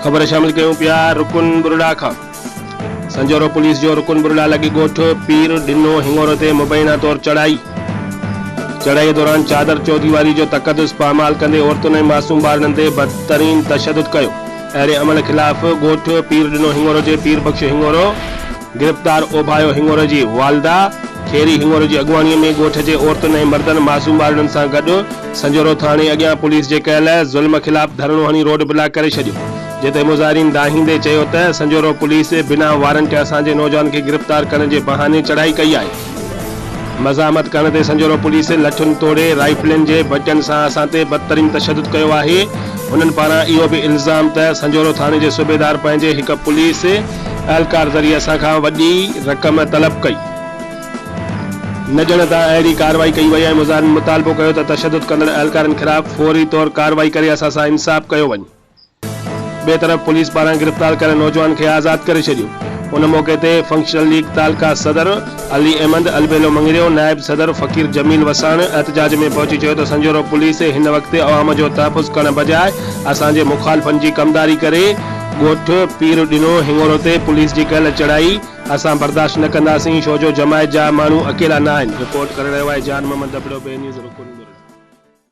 خبر شامل ڪيون پيا رڪن ٻرڙا کان سنجهورو پوليس جو رڪن ٻرڙا لڳي ڳوٺ پير ڏنو هنڱورو تي مبينا طور چڙهائي چڙهائي دوران چادر چوديواري جو تقدس پامال ڪندي عورتن ۽ معصوم ٻارڙن تي بدترين تشدد ڪيو اهڙي عمل خلاف ڳوٺ پير ڏنو هڱورو جي پير بخش هڱورو گرفتار اوڀايو هڱورو جي والده کيري هڱورو جي اڳواڻي ۾ ڳوٺ جي عورتن ۽ مردن معصوم ٻارڙن سان گڏ سنجهورو ٿاڻي اڳيان پوليس جي ڪيل ظلم خلاف ڌرڻو هڻي روڊ بلاڪ ڪري ڇڏيو جنهن تي مظاهرين دانهيندي چيو ته سنجهورو پوليس بنا وارنٽ اسان جي نوجوان کي گرفتار ڪرڻ جي بهاني چڙهائي ڪئي آهي. مزاحمت ڪرڻ تي سنجهورو پوليس لٺين توڙي رائفلن جي بچن سان اسان تي بدترين تشدد ڪيو آهي، انهن پاران اهو به الزام ته سنجهورو ٿاڻي جي صوبيدار پنهنجي هڪ پوليس اهلڪار ذريعي اسان کان وڏي رقم طلب ڪئي. نه ڄڻ ته اهڙي ڪارروائي ڪئي وئي ۽ مظاهرين مطالبو ڪيو ته تشدد ڪندڙ اهلڪارن خلاف فوري طور ڪارروائي ڪري اسان سان انصاف ڪيو وڃي. ٻئي طرف پوليس پاران گرفتار ڪيل نوجوان کي آزاد ڪري ڇڏيو. ان موقعي تي فنڪشنل ليگ تعلقه صدر علي احمد البيلو مڱريو نائب صدر فقير جميل وساڻ احتجاج ۾ پهچي چيو ته سنجهورو پوليس هن وقت عوام جو تحفظ ڪرڻ بجاء اسان جي مخالفن جي ڪمداري ڪري ڳوٺ پير ڏنو هڱورو تي پوليس جي ڪيل چڙهائي اسان برداشت نه ڪنداسين ڇو جو جماعت جا ماڻهو اڪيلا ناهن. رپورٽ ڪري رهيو آهي جان محمد دبڙو بي نيوز رڪن ٻرڙ.